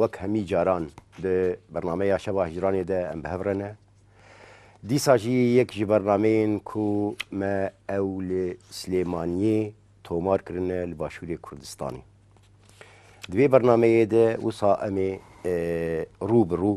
وەک هەمی جاران د بەرنامەیا شەوا هیجرانێ دە ئەم بهەڤڕێنە، دیسا ژی یەک ژ بەرنامەیێن کو مە ئەو ل سلێمانیێ تۆمار کرنە ل باشوورێ کوردستانی. دوێ بەرنامەیێ دە وسا ئەمێ ڕوو بڕوو،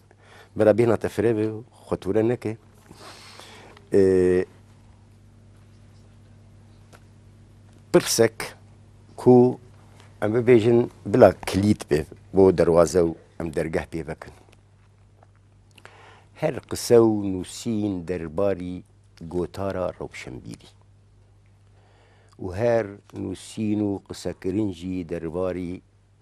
برا بێ ناتە فرێ بێ خۆتورە نەکەی پرسێک کو ئەم ببێژن بلا کلیت بێ بۆ دەواازە و ئەم دەرگەه پێ بکەن هەر قسە و نووسین دەرباری گۆتارە ڕەوشەمبیری و هەر نووسین و قسەکردنجی دەرباری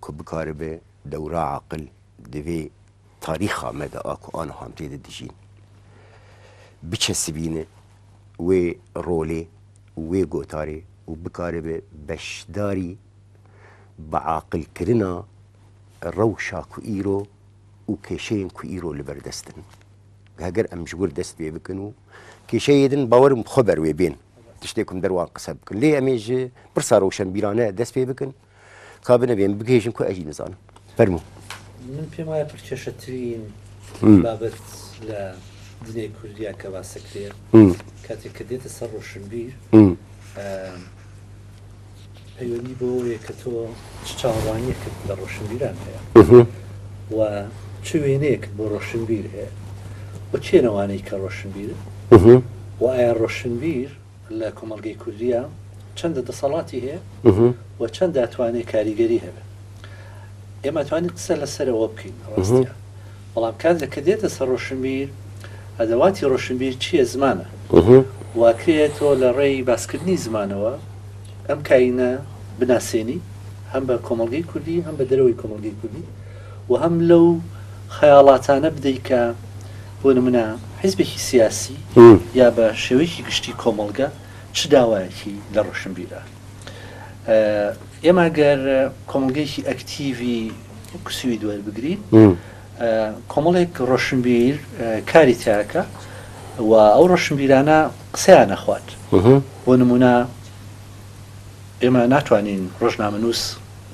کو بکار بە دەورا عاقل دەێ تاریخا مە دە ئا کو ئانە هام تێ دە دژین بچەسبینە وێ رۆلێ و وێ گۆتارێ و بکار بە بەشداری بە عاقل کرنا رەوشا کو ئیرۆ و کێشەێن کو ئیرۆ لە بەر دەستن هەگەر ئەم ژوور دەست پێ بکەن و کێشەێ دن باوەرم خۆ بەروێ بێن تشتێکم دەروان قسە بکەن لێ ئەمێژ پرسا رەوشەنبیرانە دەست پێ بکەن. کا بنەبێن بگەیژن کو ئەژین نزانم فەرموو من پێم وایە پڕکێشەترین بابەت لە دنیای کوردیا کە باسەکرێ کاتێک کە دێتە سەر ڕۆشنبیر پەیوەندی بۆیە کە تۆ چ چاوەڕوانیەکرد لە ڕۆشنبیران هەیە و چ وێنەیەکت بۆ ڕۆشنبیر هەیە بە چێنەوانەی کە ڕۆشنبیر وایە ڕۆشنبیر لە کۆمەڵگەی کوردیا چەندە دەسەڵاتی هەیە و چەندە توانێ کاریگەری هەبێ ئێمە ئەتوانین قسە لەسەر ئەوە بکەین ڕاستە بەڵام کاتێک کە دێتە سەر ڕۆشنبیر ئەدەواتی ڕۆشنبیر چییە زمانە واکرێت تۆ لە ڕێی باسکردنی زمانەوە ئەم کاینە بناسێنی هەم بە کۆمەڵگەی کوردی هەم بە دەرەوەی کۆمەڵگەی کوردی و هەم لەو خەیاڵاتانە بدەیت کە بۆ نمونە حیزبێکی سیاسی یا بە شێوەیەکی گشتی کۆمەڵگە چ داوایەکی لە ڕۆشنبیرە ئێمە گەر کۆمەڵگەیەکی ئەکتیڤی کسوی دوێر بگرین کۆمەڵێک ڕۆشنبیر کاری تاکە و ئەو ڕۆشنبیرانە قسەیان نەخوات بۆ نمونە ئێمە ناتوانین ڕۆژنامە نووس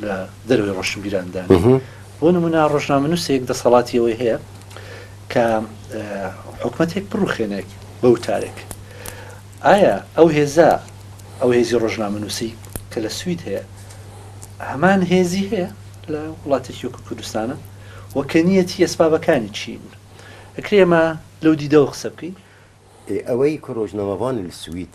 لە دەروی ڕۆشنبیراندانی بۆ نمونا ڕۆژنامەنووسێک دەسەڵاتی ئەوەی هەیە کە حکومەتێک بڕوخێنێک بە وتارێک ئایا ئەو هێزە ئەو هێزی ڕۆژنامەنووسی کە لە سوید هەیە هەمان هێزی هەیە لە وڵاتێکی وەکو کوردستانە وەکە نیەتی ئەسبابەکانی چین ئەکرێمە لەو دیدەوە قسە بکەین ئەوەی کۆرۆژنەوەوان سوید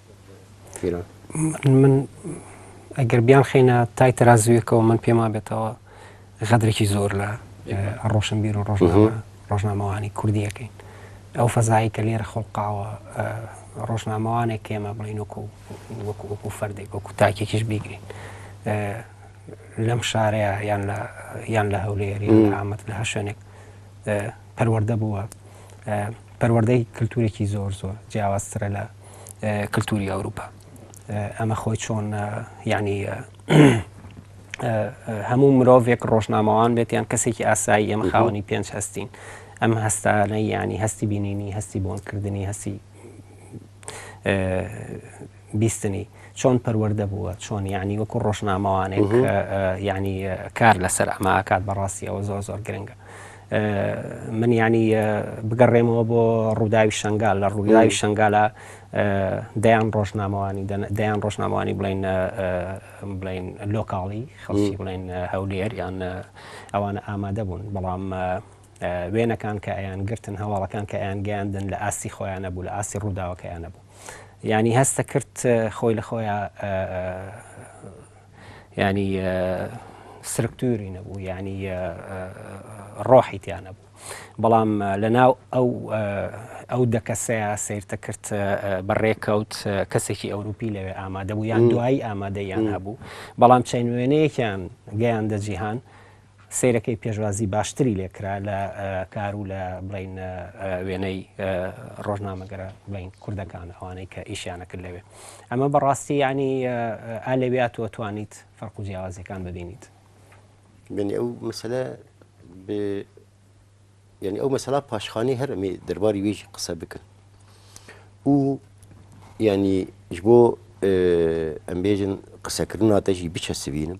من ئەگەر بیان خینە تای تەرازویەکەوە من پێما بێتەوە غەدرێکی زۆر لە ڕۆشنبیر و ڕۆژنامەوانی کوردیەکەین ئەو فەزایی کە لێرە خۆڵقاوە ڕۆژنامەوانێک کێمە بڵین وەکو وەکو وەکو فەردێک وەکو تاکێکیش بیگرین لەم شارەیە یان لە یان لە هەولێری ئامەد لە هەشوێنێک پەروەردە بووە، پەروەردەی کلتورێکی زۆر زۆر جیاوازترە لە کلتوری ئەوروپا. ئەمە خۆی چۆن یعنی هەموو مرۆڤێک ڕۆژنامەوان بێت یان کەسێکی ئاسایی ئەمە خاوەنی پێنج هەستین ئەم هەستانە ینی هەستی بینینی هەستی بۆنکردنی هەستی بیستنی چۆن پەروەردە بووە چۆن یانی وەکو ڕۆژنامەوانێک یانی کار لەسەر ئەمە ئاکات بەڕاستی ئەوە زۆر زۆر گرنگە من یانی بگەڕێمەوە بۆ ڕووداوی شنگال لە ڕووداوی شنگالە دەیان ڕۆژنامەوانی دەیان ڕۆژنامەوانی بڵین بڵین لۆکاڵی خەڵکی بڵین هەولێر یان ئەوانە ئامادە بوون بەڵام وێنەکان کە ئەیان گرتن هەواڵەکان کە ئەیان گەیاندن لە ئاستی خۆیان نەبوو لە ئاستی ڕووداوەکەیان نەبوو ینی هەستە کرد خۆی لە خۆیان ینی سرکتوری نەبوو ینی ڕۆحی تیان نەبوو بەڵام لە ناو ئەو ئەو دەکەسەیە سیرتە کرد بە ڕێکەوت کەسێکی ئەوروپی لەوێ ئامادە بوو یان دوایی ئامادەیان هەبوو بەڵام چین وێنەیەکیان گەیاندە جیهان سەیرەکەی پێشوازی باشتری لێ کرا لە کار و لە بڵین وێنەی ڕۆژنامەگەرە بڵین کوردەکان ئەوانەی کە ئیشیانە کرد لەوێ ئەمە بەڕاستی ینی ئالەویات تۆ توانیت فەرق و جیاوازەکان ببینیت بینی ئەو مەسلە یعنی ئەو مەسەلا پاشخانی هەرمی دەرباری وێژی قسە بکەن و ینی ji بۆ ئەمبێژن قسەکردن ناتەژی بچە سبینم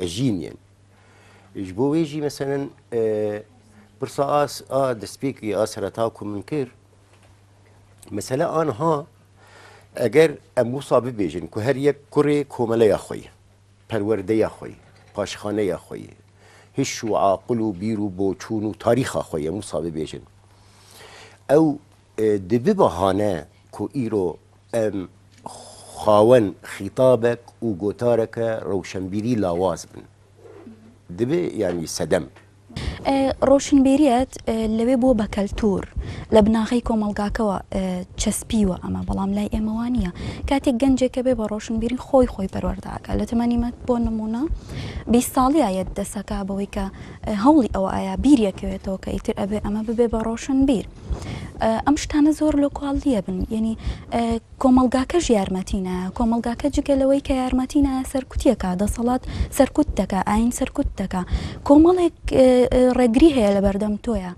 ئەژین یەن ژ بۆ وێژی مەسەەن پرسا ئاس ئا دەستپێکی ئا سەرەتا کو من کرد مەسەلا ئانها ئەگەر ئەم وسا ببێژن کو هەر یەک کوڕێ کۆمەلەیە خۆی پەروەردەیە خۆی پاشخانەیە خۆی هیش و عاقل و بیر و بۆچوون و تاریخا خۆی ئەم وسا ببێژن ئەو دبی بەهانە کو ئیرۆ ئەم خاوەن خیتابەک و گۆتارەکە رەوشەنبیری لاواز بن دبی یانی سەدەم. رۆشنبیریت لەوێ بووە بە کەلتوور، لە بناغەی کۆمەڵگاکەوە چەسپیوە ئەمە، بەڵام لای ئێمە وا نییە. کاتێک گەنجێک کە بێ بە رۆشنبیری خۆی خۆی پەروەردە ئەکا، لە تەمەنی من بۆ نموونە بیست ساڵی ئایەت دەسەکا بەوەی کە هەوڵی ئەوە ئەیا بیری ئەکەوێتەوە کە ئیتر ئەبێ ئەمە ببێ بە رۆشنبیر. ئەم شتانە زۆر لۆ کواڵیە بن یعنی کۆمەلگاکەش یارمەتی نا کۆمەلگاکە جگە لەوەی کە یارمەتی نا سەرکوتیەکە دەسەڵات سەرکوت دەکە ئاین سەرکوت دەکە کۆمەڵێک ڕێگری هەیە لە بەردەم تۆیە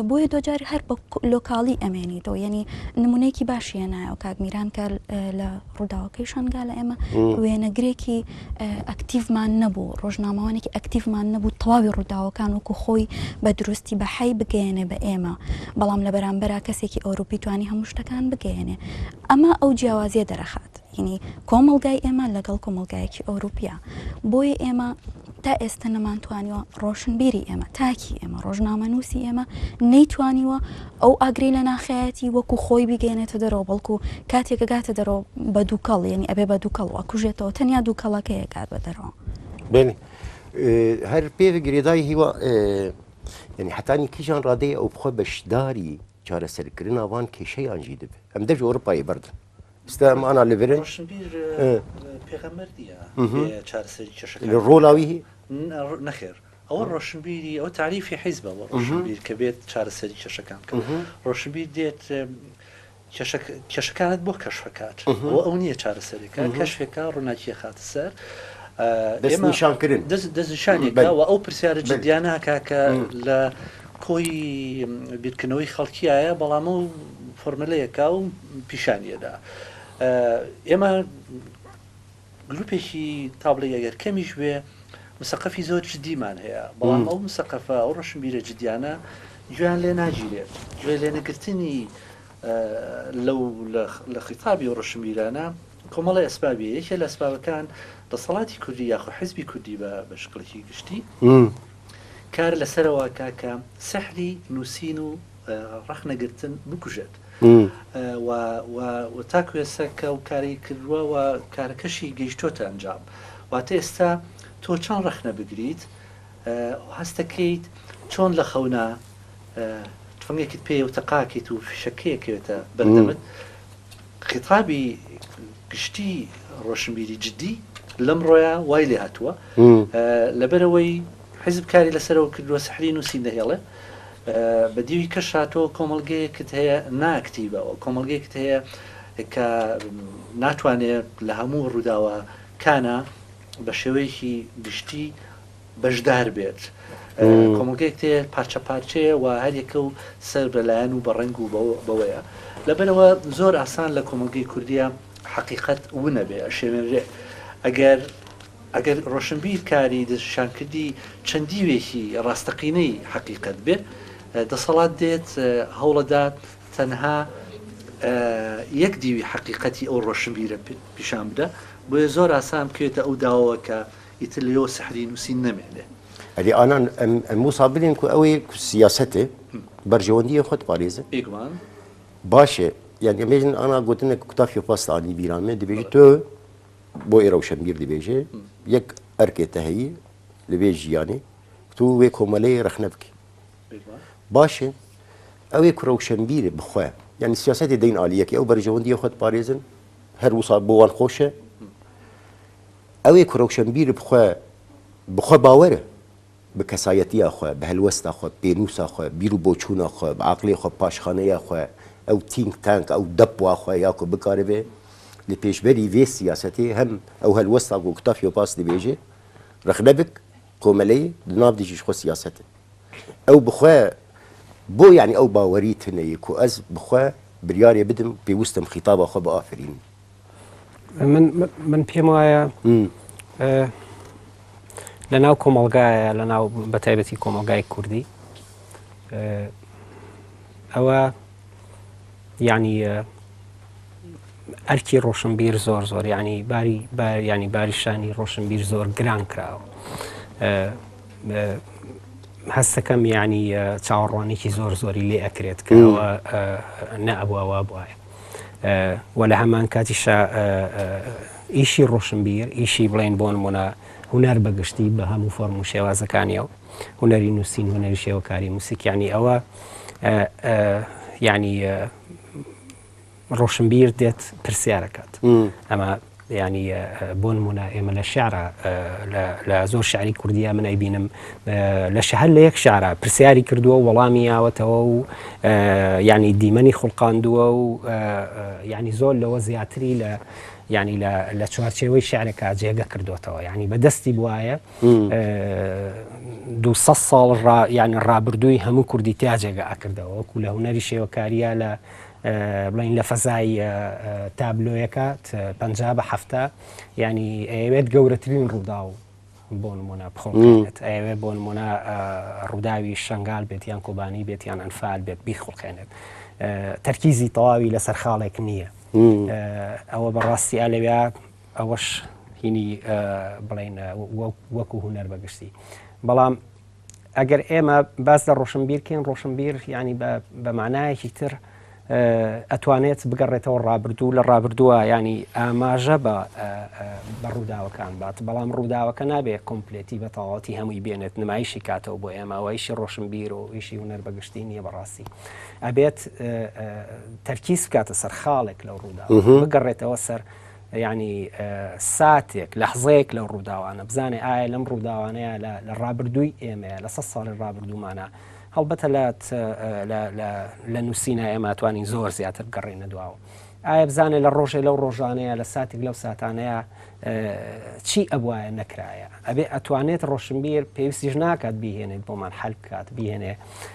بۆیە دۆجاری هەر بە لۆکاڵی ئەمێنیتەوە یعنی نمونەیەکی باشیە نایە کاک میران کە لە ڕووداوەکەی شەنگالە ئێمە وێنەگرێکی ئەکتیڤمان نەبوو ڕۆژنامەوانێکی ئەکتیڤمان نەبوو تەواوی ڕووداوەکان وکو خۆی بە دروستی بە حی بگەێنێ بە ئێمە بەڵام لە بەرامبەر کەسێکی ئەوروپی توانی هەموو شتەکان بگەێنێ ئەمە ئەو جیاوازیە دەرەخات یعنی کۆمەلگای ئێمە لەگەڵ کۆمەلگایەکی ئەوروپیا بۆیە ئێمە تا ئێستە نەمانتوانیوە ڕۆشنبیری ئێمە، تاکی ئێمە، ڕۆژنامەنووسی ئێمە نەیتوانیوە ئەو ئاگرەی لە ناخیایەتی وەکو خۆی بیگەیەنێتە دەرەوە، بەڵکو کاتێک ئەگاتە دەرەوە بە دووکەڵ، یەنی ئەبێ بە دووکەڵ ئەکوژێتەوە، تەنیا دووکەڵەکەی ئەگات بە دەرەوە. بەێنی هەر پێ گرێدای هیوا یەنی حەتانی کیژان ڕادەی ئەو بخۆ بەشداری چارەسەرکردن ئاڤان کێشەیان ژی دب ئەم دەژ ئۆرپایی بەردن ستا مانا لەبرن ڕۆلاوی نەخێر ئەوە ڕۆشنبیری ئەو تعریفی حیزبە بۆ ڕۆشنبیر کە بێت چارەسەری کێشەکان بکە ڕۆشنبیر دێت کێشەکانت بۆ کەشفەکات بۆ ئەو نییە چارەسەرێکە کەشفێکە ڕووناکیە خاتە سەر ئێمەشانکردن دەستشانێکەوە ئەو پرسیارە جدیانە کاکە لە کۆی بیرکردنەوەی خەڵکیایە، بەڵام ئەو فۆرمەلەیەکە و پیشانیەدا. ئێمە گروپێکی تابڵی ئەگەر کەمیش بێ مسەقەفی زۆر جدیمان هەیە، بەڵام ئەو مسەقەفە ئەو ڕەشنبیرە جدیانە گوێیان لێ ناگیرێت، گوێ لێ نەگرتنی لەو لە خیتابی و ڕەشنبیرانە کۆمەڵی ئەسبابی یەکێ لە ئەسبابەکان دەسەڵاتی کوردی یاخۆ حزبی کوردی بە شکڵێکی گشتی، کار لەسەرەوە کا کە سحری نووسین و ڕەخنە گرتن بکوژێت و تاکو ئێستا کە و کاری کردووە و کارەکەشی گەیشتۆتە ئەنجام واتە ئێستا تۆ چەند ڕەخنە بگریت هەستەکەیت چۆن لە خەونا تفەنگێکت پێ و تەقاکەیت و فشەکەیەکەوێتە بەردەمت خیتابی گشتی ڕۆشنبیری جدی لەمڕۆیە وای لێ هاتووە لەبەرەوەی حیزب کاری لەسەرەوە کردووە سحری نووسین دەهێڵێ بە دیوی کەش هاتووە کۆمەلگەیەکت هەیە ناکتیبە کۆمەلگەیەکت هەیە کە ناتوانێت لە هەموو ڕووداوە کانە بە شێوەیەکی گشتی بەشدار بێت کۆمەڵگەیەک تێ پارچە پارچەیە و هەریەکە و سەر بەلایەن و بەڕنگ و بەوەیە لەبەرەوە زۆر ئاسان لە کۆمەڵگەی کوردیە حقیقت ونەبێ ئەشێنرێ ئەگەر ئەگەر ڕۆشنبیر کاری دەشان کردی چەندیوێکی ڕاستەقینەی حقیقت بێ دەسەڵات دێت هەوڵەدات تەنها یەک دیوی حقیقەتی ئەو ڕۆشنبیرە پیشان بدە بۆیە زۆر ئاسان بکرێتە ئەو داوەکە ئیتر لێوە سحری نووسین نەمێنێ. ئەدی ئانان ئەم وسا بلێن کو ئەوێ سیاسەتێ بەرژەوەندیە خۆت پارێزە ئێگومان باشێ یان ئێمێژن ئانا گوتنە کوتافی پاسانی بیرامێ دەبێژی تۆ بۆ ئێ ڕەوشەنبیر دەبێژێ یەک ئەرکێ تەهەیی لەبێ ژیانی تو وێ کۆمەلەی ڕەخنە بکە باشێ ئەوێ کو ڕەوشەنبیر بخۆە یعنی سیاسەتی دەین عالیەکی ئەو بەرژەوەندی خۆت پارێزن هەر وسا بۆوان خۆشە ئەوێ کە ڕۆشەنبیرە بخوا بخوا باوەرە بە کەسایەتیا خوا بە هەلوەستا خوا بە پێنووسا خوا بیر و بۆچوونا خوا بە عەقڵێ خوا پاشخانەیا خوا ئەو تینک تانک ئەو دەپوا خوا یا کە بکارەێ لە پێشبەری ڤێ سیاسەتێ هەم ئەو هەلوەستا گۆ کتاف یۆ پاس دەبێژێ ڕخنە بک کۆمەلەی دناڤ دژیش خوا سیاسەتێ ئەو بخوا بۆ یانی ئەو باوەری تنەیە کۆ ئەز بخوا بریارێ بدم پێوستم خیتابا خوا بە ئافەرینی. من پێم وایە لە ناو کۆمەلگایە لە ناو بە تایبەتی کۆمەلگای کوردی ئەوە ینی ئەرکی ڕۆشنبیر زۆر زۆر ینی باری ینی باریشانی ڕۆشنبیر زۆر گران کراوە هەستەکەم ینی چاوەڕوانێکی زۆر زۆری لێ ئەکرێت کەەوە نەبووەوە بواە و لە هەمان کاتیشا ئیشی ڕۆشنبیر ئیشی بڵێن بۆن مۆنا هوەر بەگشتی بە هەموو فۆرم و شێوازەکانیەوە هوەری نووسین هوەری شێوەکاری موسیکیانی ئەوە ینی ڕۆشنبیر دێت پرسیارەکەات ئەمە یانی بۆ نموونە ئێمە لە شعرا لە زۆر شعری کوردیا من ئەیبینم لە شەهر لە یەک شعرا پرسیاری کردووە و وەڵامی یاوەتەوە و ینی دیمەنی خوڵقاندووە و ینی زۆر لەوە زیاتری لە ینی لە چوارچێوەی شعرەکە جێگە کردوێتەوە ینی بەدەستی بواە دو ساڵ یانی ڕابردووی هەموو کوردی تیا جێگە ئەکردەوە وەکو لە هوەری شێوەکاریە لە بڵێین لە فەزای تابلۆیەکە پەنجا بە حەفتا ینی ئەوێت گەورەترین ڕووداو بۆ نمونە بخڵقێنێت ئەوێ بۆ نمونە ڕووداوی شنگال بێت یان کۆبانی بێت یان ئەنفال بێت بیخڵقێنێت تەرکیزی تەواوی لەسەر خاڵێک نییە ئەوە بەڕاستی ئالەویا ئەوەش هینی بڵێن وەکو هوەر بەگشتی بەڵام ئەگەر ئێمە باس لە ڕۆشنبیر کەین، ڕۆشنبیر یانی بە مانایەکی تر ئەتوانێت بگەڕێتەوە ڕابردوو لە ڕابردووە ینی ئاماژە بە بە ڕووداوەکان بات بەڵام ڕووداوەکە نابێ کۆمپلێتی بە تەواتی هەمووی بێنێت نمایشی کاتەوە بۆ ئێماوەیشی ڕۆشنبیر و ئیشی هوەر بەگشتی نییە بەڕاستی ئەبێت تەرکیز بکاتە سەر خاڵێک لە ڕوودا بگەڕێتەوە سەر یانی ساتێک لەحزەیەک لەو ڕووداوانە بزانێ ئایا لەم ڕووداوانەیە لە ڕابردووی ئێمەیە لە سە ساڵی ڕابردوومانە هەڵبەتە لە نووسینە ئێماتوانی زۆر زیاتر گەڕێنە دواوە ئایا بزانێ لە ڕۆژێ لەو ڕۆژانەیە لە ساتێک لەو ساتانەیە چی ئەبواە نەکرایە ئەبێ ئەتوانێت ڕۆشنبیر پێویستیش ناکات بهێنێت بۆمان حل بکات بهێنێ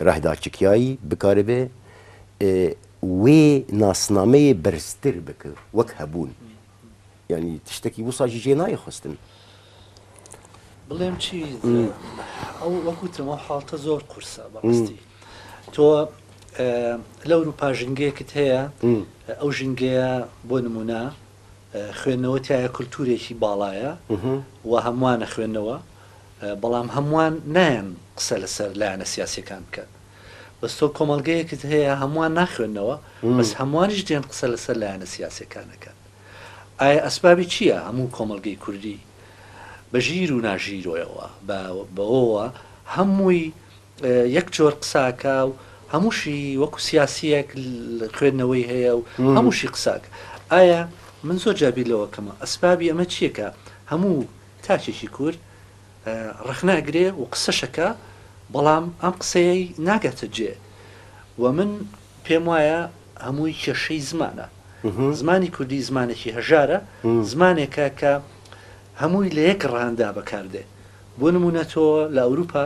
رهدا چ کیایی بکاربێ ئێ وێ ناسنامەیێ بەرزتر بک وەک هەبوون یانی تشتەکی وساژی جێ نایێ خوستن. بڵێم چی ئەو وەک وتم ئەو حاڵتە زۆر قورسە بەڕاستی تۆ لە ئەوروپا ژینگەیەکت هەیە ئەو ژینگەیە بۆ نمونە خوێندنەوە تایە کللتورێکی باڵایە و هەمووانە خوێندنەوە بەڵام هەمووان نایەن قسە لەسەر لایەنە سیاسەکان بکەن بەس تۆ کۆمەلگەیەکت هەیە هەمووان ناخوێندنەوە بەس هەمووانیش دێن قسە لەسەر لایەنە سیاسەکانەکەن ئایا ئەسبابی چییە هەموو کۆمەلگەی کوردی بە ژیر و ناژیرۆیەوە بەوەوە هەمووی یەک جۆر قسە ئەکا و هەمووشی وەکو سیاسیەک خوێندنەوەی هەیە و هەمووشی قساک ئایا من زۆر جابی لەوەکەمە ئەسبابی ئەمە چیەکە هەموو تاچێکی کورد ڕخنە ئەگرێ و قسەشەکە بەڵام ئەم قسەیە ناگاتە جێ و من پێم وایە هەمووی کێشەی زمانە زمانی کوردی زمانێکی هەژارە زمانێکە کە هەمووی لە یەک ڕاندا بەکاردێ بۆ نموونە تۆ لە ئەوروپا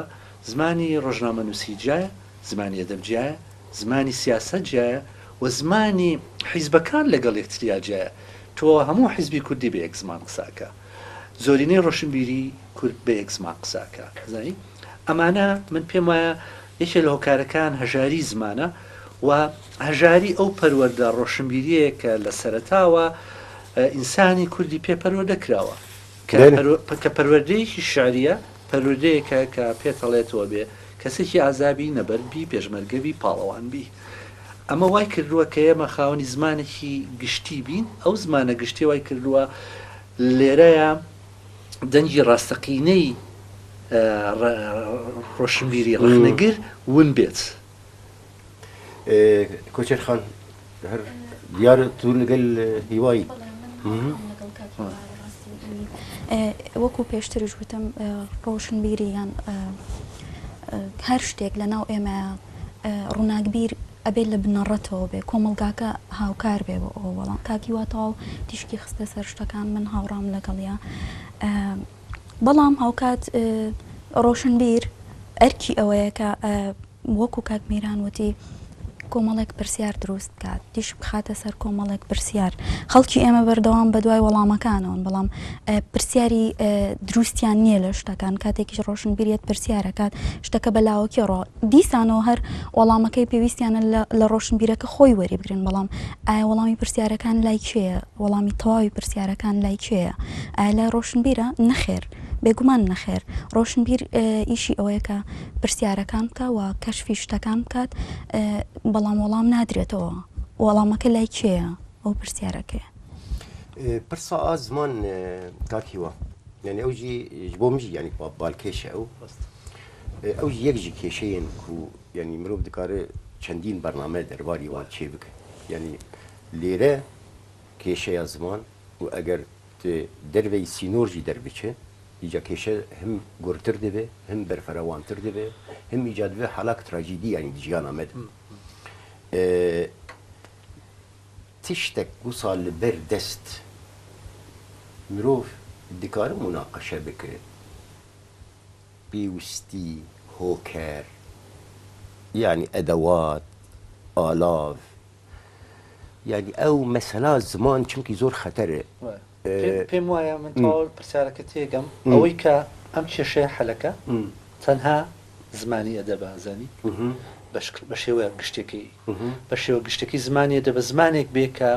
زمانی ڕۆژنامەنووسی جیایە، زمانی ئەدەب جیایە، زمانی سیاسەت جیایە و زمانی حیزبەکان لەگەڵ یەکتریا جیایە، تۆ هەموو حیزبی کوردی بە یەک زمان قسە ئەکا، زۆرینەی ڕۆشنبیری کورد بە یەک زمان قسە ئەکا، زانی؟ ئەمانە من پێم وایە یەکێ لە هۆکارەکان هەژاری زمانە و هەژاری ئەو پەروەردە ڕۆشنبیریەیە کە لە سەرەتاوە ئینسانی کوردی پێ پەروەردە کراوە. کە پەروەردەیەکی شعرییە، پەروردەیەکە کە پێتەڵێتەوە بێ کەسێکی ئازا بی، نەبەرد بی، پێشمەرگە بی، پاڵەوان بی. ئەمە وای کردووە کە ئێمە خاوەنی زمانێکی گشتی بین، ئەو زمانە گشتیە وای کردووە لێرەیە دەنگی ڕاستەقینەی ڕۆشنبیری ڕەخنەگر ون بێت. کۆچەر خان هەر دیارە تو لەگەل هیوایی وەکو پێشترش وتم ڕۆشنبیری یان هەر شتێک لە ناو ئێمە ڕووناکبیر ئەبێت لە بنەڕەتەوە بێ کۆمەلگاکە هاوکار بێ بۆ ئەوەڵام کاکی واتەواو تیشکی خستە سەر شتەکان من هاوڕام لەگەڵیا بەڵام هاوکات ڕۆشنبیر ئەرکی ئەوەیە کە وەکو کاک میران وتی کۆمەڵێک پرسیار دروست بکات دیش بخاتە سەر کۆمەڵێک پرسیار خەڵکی ئێمە بەردەوام بە دوای وەڵامەکانەوەن بەڵام پرسیاری دروستیان نییە لە شتەکان کاتێکیش ڕۆشنبیریت پرسیارەکات شتەکە بەلاوەکی ڕۆ دیسانەوە هەر وەڵامەکەی پێویستیانە لە ڕۆشنبیرەکە خۆی وەریبگرن بەڵام ئایا وەڵامی پرسیارەکان لای کێیە وەڵامی تەواوی پرسیارەکان لای کێیە ئایا لای ڕۆشنبیرە نەخێر بێگومان نەخێر ڕۆشنبیر ئیشی ئەوەیە کە پرسیارەکان بکە و کەشفی شتەکان بکات بەڵام وەڵام نادرێتەوە وەڵامەکە لای کێیە ئەو پرسیارەکەی پرسا ئازمان کاکیوە یعنی ئەوجی بۆ مژی یعنی بالکێشە ئەو بەست ئەو جی یەک جی کێشەیەن کو یانی مرۆڤ دکارێ چەندین بەرنامە دەرباری وان چێ بکە یانی لێرە کێشەیە زمان و ئەگەر دەرێی سینۆر جی دەربچێ ئیجا کێشە هەم گورتر دەێ هەم بەرفەرەوانتر دەێ هەم ئیجا دەێ حەلاک تراجیدی یانی دژیان ئەمەد تشتێک گوسا لەبەر دەست مرۆڤ دکارە مناقەشە بکرێت. پێوستی هۆکار یانی ئەدەوات ئالاڤ یانی ئەو مەسەلا زمان چونکی زۆر خەتەرە. پێم وایە من تەواوی پرسیارەکە تێگەم ئەوەی کە ئەم کێشەیە حەلەکە تەنها زمانی ئەدەبە ئەزانی بە شێوەیە گشتەکەی بە شێوە گشتەکەی زمانی ئەدەبە زمانێک بێ کە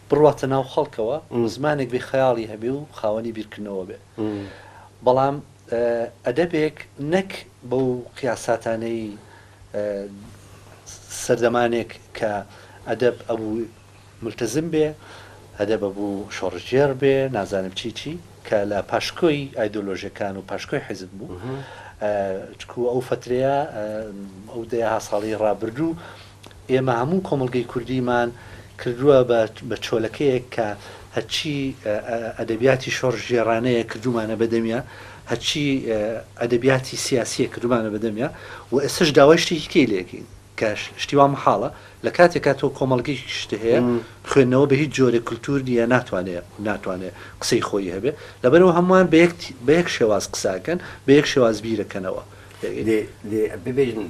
بڕواتە ناو خەڵکەوە زمانێک بێ خەیاڵی هەبێ و خاوەنی بیرکردنەوە بێ بەڵام ئەدەبێک نەک بەو قیاساتانەی سەردەمانێک کە ئەدەب ئەبوو مولتەزم بێ، ئەدەب ئەبوو شۆڕشگێڕ بێ، نازانم چی چی، کە لە پاشکۆی ئایدۆلۆژیەکان و پاشکۆی حیزب بوو، چونکوو ئەو فەترەیە، ئەو دەیەها ساڵەی ڕابردوو، ئێمە هەموو کۆمەڵگەی کوردیمان کردووە بە چۆلەکەیەک کە هەرچی ئەدەبیاتی شۆڕشگێڕانەیە کردوومانە بە دەمیا، هەرچی ئەدەبیاتی سیاسییە کردوومانە بە دەمیا و ئێستەش داوای شتێکی کەی لێ دەکەین کە شتی وا مەحاڵە، لە کاتێکا تۆ کۆمەڵگەیەکی شت هەیە خوێندنەوە بە هیچ جۆرێک کولتوور نییە ناتوانێت قسەی خۆی هەبێت، لەبەرئەوە هەمووان بە یەک شێواز قسە ئەکەن، بە یەک شێواز بیر ئەکەنەوە. دە ببێژن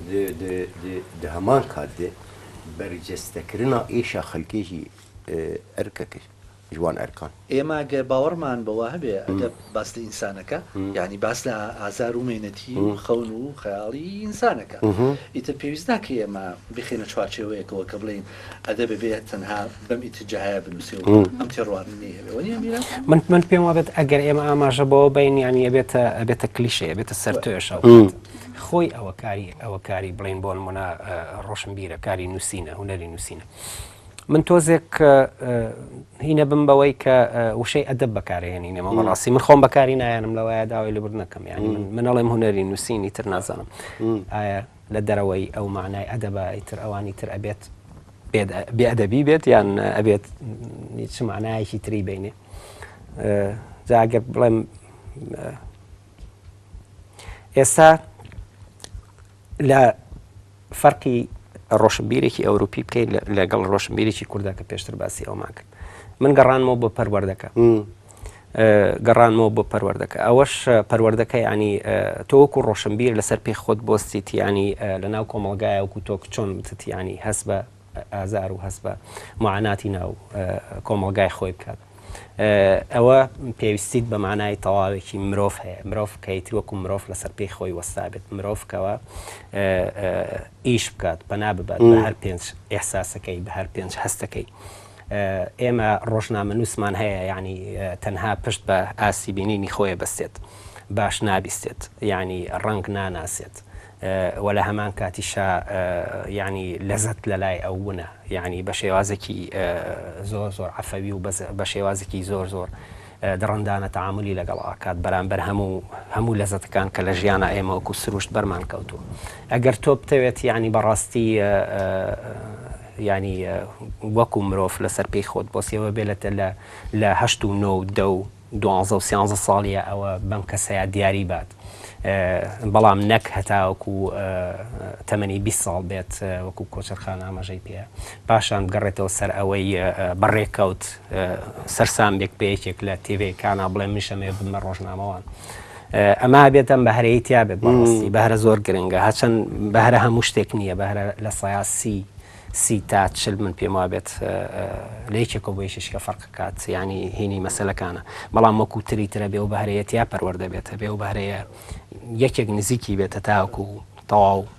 دە هەمان کات دە بەرجەستە کرنا ئێشا خەلکێژی ئەرکەکەش ژوان ئەرکان. ئێمە گەر باوەڕمان بەوە هەبێ ئەدەب باس لە ئینسانەکە، یانی باس لە ئازار و مێنەتی و خەون و خەیاڵی ئینسانەکە. ئیتر پێویست ناکە ئێمە بیخەینە چوارچێوەیەکەوە کە بڵێین ئەدەب ئەبێ تەنها بەم ئیتجاهەیە بنووسێ و ئەم تێڕوانینەی هەبێ وەنی ئەمیرە من من پێم وابێت ئەگەر ئێمە ئاماژە بەوە بین یانی ئەبێتە ئەبێتە کلیشە ئەبێتە سەر توێشە خۆی ئەوە کاری ئەوە کاری بڵین بۆ نمونە ڕۆشنبیرە کاری نووسینە هوەری نووسینە من تۆزێک هینە بم بەوەی کە وشەی ئەدەب بەکارێنی نێمە بەڕاستی من خۆم بەکاری نایەنم لەوەیە داوای لەبر نەکەم یانی منەڵێم هوەری نووسینی تر نازانم لە دەرەوەی ئەو مەعنای ئەدەبە ئیتر ئەوانی تر ئەبێت بێ ئەدەبی بێت یان ئەبێت چ مەعنایەکی تری بینێ جا ئەگەر بڵێم ئێستا لە فەرقی ڕۆشنبیرێکی ئەوروپی بکەین لەگەڵ ڕۆشنبیرێکی کوردە کە پێشتر باسی ئەومان کرد من گەڕانمەوە بۆ پەروەردەکە گەڕانمەوە بۆ پەروەردەکە ئەوەش پەروەردەکە یعنی تۆ وەکو ڕۆشنبیر لەسەر پێ خۆت بۆستیت یعنی لەناو کۆمەڵگایە وەکو تۆک چۆن بتت یعنی هەست بە ئازار و هەست بە معاناتی ناو کۆمەڵگای خۆی بکات ئەوە پێویستیت بە مانای تەواوێکی مرۆڤ هەیە مرۆڤ کەیتر وەکو مرۆڤ لەسەر پێی خۆی وەستابێت مرۆڤکەوە ئیش بکات پەنا ببات بە هەر پێنج ئێحساسەکەی بە هەر پێنج هەستەکەی ئێمە ڕۆژنامەنووسمان هەیە یانی تەنها پشت بە ئاستی بینینی خۆێ بەستێت باش نابیستێت یانی ڕەنگ ناناسێت وە لە هەمان کاتیشا یانی لەزەت لە لای ئەو ونە یانی بە شێوازێکی زۆر زۆر عەفەوی و بە شێوازێکی زۆر زۆر دڕندانە تعاملی لەگەڵ ئاکات بەرامبەر هەموو هەموو لەزەتەکان کە لە ژیانە ئێمە وەکو سروشت بەرمان کەوتووە ئەگەر تۆ بتەوێت یانی بەڕاستی یانی وەکو مرۆڤ لەسەر پێی خۆت بۆ سێوە بێ لەتە لە لە هەشت و نۆ و دە و دوانزە و سیانزە ساڵیە ئەوە بەم کەسەیا دیاری بات بەڵام نەک هەتاوەکو تەمەنی بیست ساڵ بێت وەکو کۆچەرخان ئاماژەی پێە پاشان بگەڕێتەوە سەر ئەوەی بە ڕێکەوت سەرسام بێک بە یەکێک لە تێڤەکانە بڵێ منشەمێ بمە ڕۆژنامەوان ئەمە ئەبێت ئەم بەهرەی تیا بێت بەڕاستی بەهرە زۆر گرنگە هەچەند بەهرە هەموو شتێک نییە بەهرە لە سیاسی سی تا چل من پێم وابێت لە یەکێکەوە بۆ یشیش کە فەرقکات ینی هینی مەسلەکانە بەڵام وەکو تری ترە بێ و بەهرەیەتیا پەروەەردە بێتە بێ و بەهرەیە یەکێک نزیکی بێتە تاکو و تەواو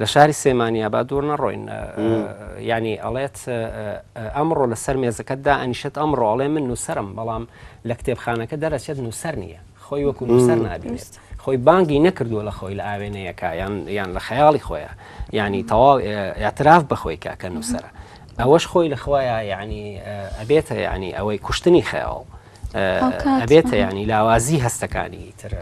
لە شاری سێمانیا با دوور نەڕۆین ینی ئەڵێت ئەمڕۆ لەسەر مێزەکەتدا ئەنیشت ئەمڕۆ ئەڵێ من نووسرم بەڵام لە کتێبخانەکە دەرەچێت نووسەر نییە خۆی وەکو نووسەر نابێت خۆی بانگی نەکردووە لە خۆی لە ئاوێنەیەەکە یان یان لە خەیاڵی خۆیە ینی تەواو ئاعتراف بەخۆی کە کە نووسرە ئەوەش خۆی لە خۆیان یعنی ئەبێتە ینی ئەوەی کوشتنی خەیاڵ ئەبێتە ینی لاوازی هەستەکانی تر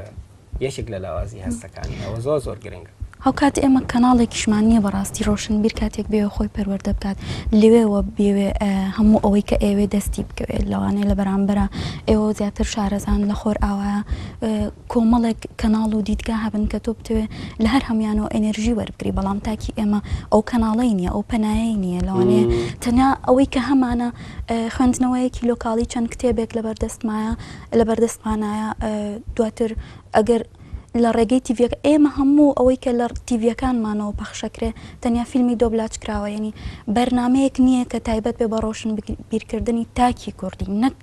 یەکێک لە لاوازی هەستەکانی ئەوە زۆر زۆر گرنگە هاوکات ئێمە کەناڵێکیشمان نییە بەڕاستی ڕۆشنبیر کاتێک بێ خۆی پەروەەردە بکات لەوێەوە بێوێ هەموو ئەوەی کە ئێوێ دەستی بکەوێت لەوانەیە لە بەرامبەرە ئێوە زیاتر شارەزان لە خۆر ئاوا کۆمەڵێک کەناڵ و دیدگا هەبن کە تۆ بتوێ لە هەر هەمویانەوە ئەنرژی وەربگری بەڵام تاکی ئێمە ئەو کەناڵی نییە ئەو پەنایە نییە لەوانەیە تەنیا ئەوەی کە هەمانە خوێندنەوەیەکی لۆکاڵی چەند کتێبێک لە بەردەستمایە لەبەردەستمانایە دواتر ئەگەر لە ڕێگەی تیڤەکە ئێمە هەموو ئەوەی کە لە تیڤەکانمانەوە پەخشەکرێ تەنیا فیلمی دۆبلاچ کراوە ینی بەرنمەیەک نییە کە تایبەت بێ بە ڕۆشن بیرکردنی تاکی کوردی نەک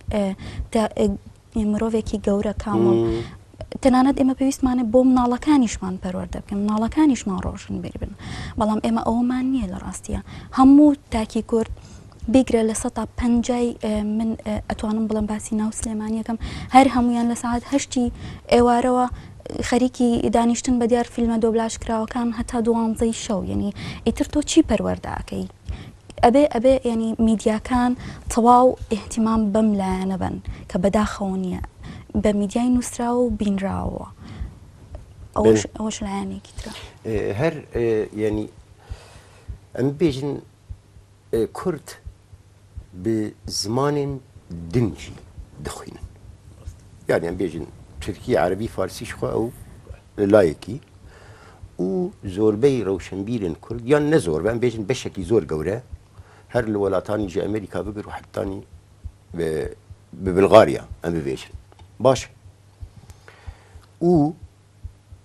مرۆڤێکی گەورە کامڵ تەنانەت ئێمە پێویستمانە بۆ مناڵەکانیشمان پەروەەردە بکەن مناڵەکانیشمان ڕۆژن بیربن بەڵام ئێمە ئەومان نییە لە ڕاستیە هەموو تاکی کورد بیگرە لە سەتا پەنجای من ئەتوانم بڵێم باسی ناو سلێمانیەکەم هەر هەمویان لە سعات هەشتی ئێوارەوە خەریکی دانیشتن بە دیار فیلمە دۆبلاش کراوەکان هەتا دوانزەی شەو یعنی ئیتر تۆ چی پەروەەرداکەی ئەبێ ئەبێ ینی میدیاکان تەواو احتیمام بەم لایەنە بن کە بەداخەوە نییە بە میدیای نووسراوە و بینراوە ئەوش لایەنێکی ترە هەر ینی ئەم بێژن کورد بێ زمانێن دنگی دخوینن یانیان بێژن تورکی عەرەبی فارسیش خۆ ئەو لایەکی و زۆربەی ڕەوشنبیرن کورد یان نە زۆر بەم بێژن بەشێکی زۆر گەورە هەر لە وڵاتانی ژە ئەمریکا بگر و حتانی ببلغاریا ئەم ببێژن باش و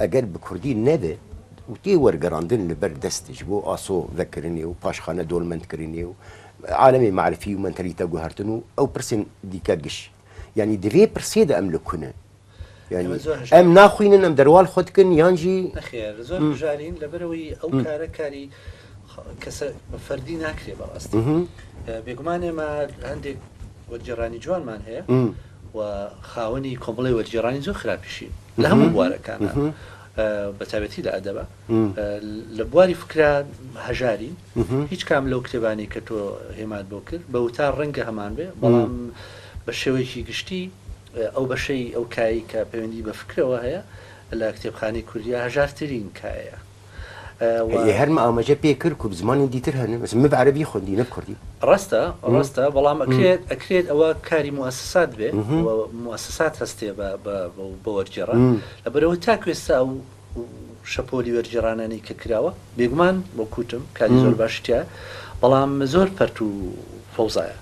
ئەگەر بە کوردی نەبێ و تێ وەرگەڕاندن لە بەر دەستیش بۆ ئاسۆ ڤەکرنێ و پاشخانە دۆلمەند کرنێ و عالەمێ مەعرفی و مەنتەلیتە گوهەرتن و ئەو پرسێن دیکە گش یانی دڤێ پرسێ دە ئەم لە کونن یانی ئەم ناخوینن ئەم دەروال خود کن یان جی نەخێر زۆر بژارین لە بەرەوەی ئەو کارە کاری کەسە فەردی ناکرێ بە ئەست بێگومان ئێمە هەندێک وەرگێڕانی جوانمان هەیە و خاوەنی کۆمەڵی وەرگێڕانی زۆر خراپیشین لە هەموو بوارەکانا بە تابەتی لە ئەدەبە لە بواری فکرا هەژارین هیچ کام لەو کتێبانی کە تۆ هێمات بۆ کرد بە وتا ڕەنگە هەمان بێ بەڵام بە شێوەیەکی گشتی ئەو بەشەی ئەو کایی کە پەیوەندی بە فکرەوە هەیە لە کتێبخانی کوردیا هەژارترین کایە و. ئێ هەر مامەجە پێ کرد کو زمانی دیتر هەنە مەسە مب عەرەبی خوەندی نەب کوردی. ڕاستە ڕاستە بەڵام ئەکرێت ئەکرێت ئەوە کاری موئەسسات بێ و موئەسسات هەستێ بە بە بە وەرگێڕە لەبەرئەوەی تاکو ئێستا ئەو شەپۆلی وەرگێڕانانەی کە کراوە بێگومان وەک وتم کاری زۆر باشی تیایە بەڵام زۆر پەرت و فەوزایە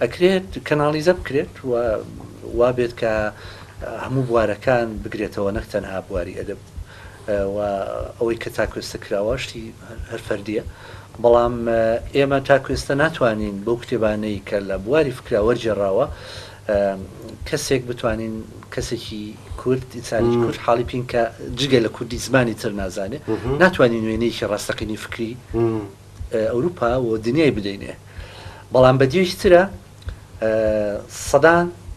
ئەکرێت کەناڵیزە بکرێت و وابێت کە هەموو بوارەکان بگرێتەوە نەک تەنها بواری ئەدەب و ئەوەی کە تاکو ئێستا کراوە شتی هەر فەردییە، بەڵام ئێمە تاکو ئێستا ناتوانین بەو کتێبانەی کە لە بواری فکرا وەرگێڕراوە کەسێک بتوانین کەسێکی کورد ئینسانێکی کورد حاڵی بکەین کە جگە لە کوردی زمانی تر نازانێ ناتوانین وێنەیەکی ڕاستەقینەی فکری ئەوروپا و دنیای بدەینێ بەڵام بەدیێکی ترە سەدان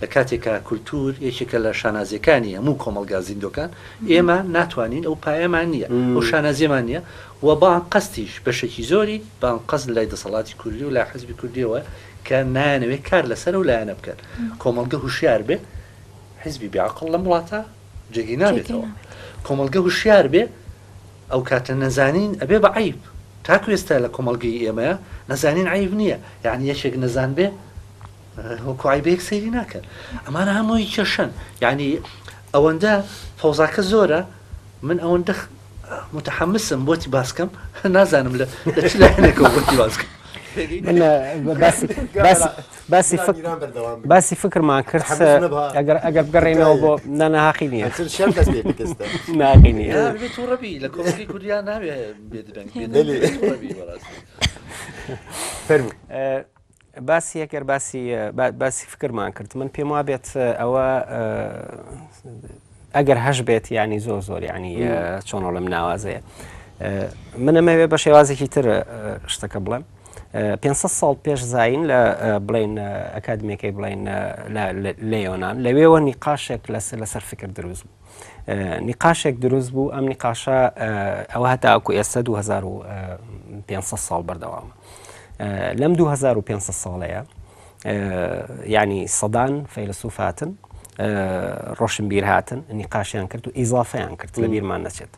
لە کاتێکا کولتوور یەکێکە لە شانازییەکانی هەموو کۆمەڵگا زیندووەکان، ئێمە ناتوانین ئەو پایەمان نییە، ئەو شانازییەمان نییە و بە ئەنقەستیش بەشێکی زۆری بە ئەنقەست لای دەسەڵاتی کوردی و لای حیزبی کوردییەوە کە نایانەوێت کار لەسەر ئەو لایەنە بکەن. کۆمەڵگە هوشیار بێ، حیزبی بێ عەقڵ لەم وڵاتە جێگەی نابێتەوە. کۆمەڵگە هوشیار بێ، ئەو کاتە نەزانین ئەبێ بە عەیب. تاکو ئێستا لە کۆمەڵگەی ئێمەیا نەزانین عەیب نییە. یەعنی یەکێک نەزان بێ؟ وەکو عەیبێک سەیری ناکەن ئەمانە هەمووی کێشەن یعنی ئەوەندە فەوزاکە زۆرە من ئەوەندە متحمسم بۆتی باسکەم نازانم لە لەچلایەنێکەوە بۆتی باسکەم باسی باسی فکرمان کرد ئەگەر ئەگەر بگەڕێنەوە بۆ نانەهاقی نیە ناقی نیە لە کۆی کوردیا ناوێ بێدرەنگ فەرمو باسی ئەگەر باسی باسی فکرمان کرد من پێم وا بێت ئەوە ئەگەر هەش بێت ینی زۆر زۆر ینی چۆنۆ لەم ناوازەیە من ئەمەوێ بە شێوازێکی تر شتەکە بڵێم 500 ساڵ پێش زین لە بڵین ئەکادمیەکەی بڵین لە یۆناان لەوێوە نیقاشێک لەسەر لەسەر فکر دروست بوو نیقاشێک دروست بوو ئەم نیقاشە ئەوە هەتاکو ئێستا 2500 ساڵ بەردەوامە لەم 2500 ساڵەیە ینی سەدان فەیلسوف هاتن ڕۆشنبیر هاتن نیقاشیان کرد و ئیزافیان کرد لە بیرمان نەچێت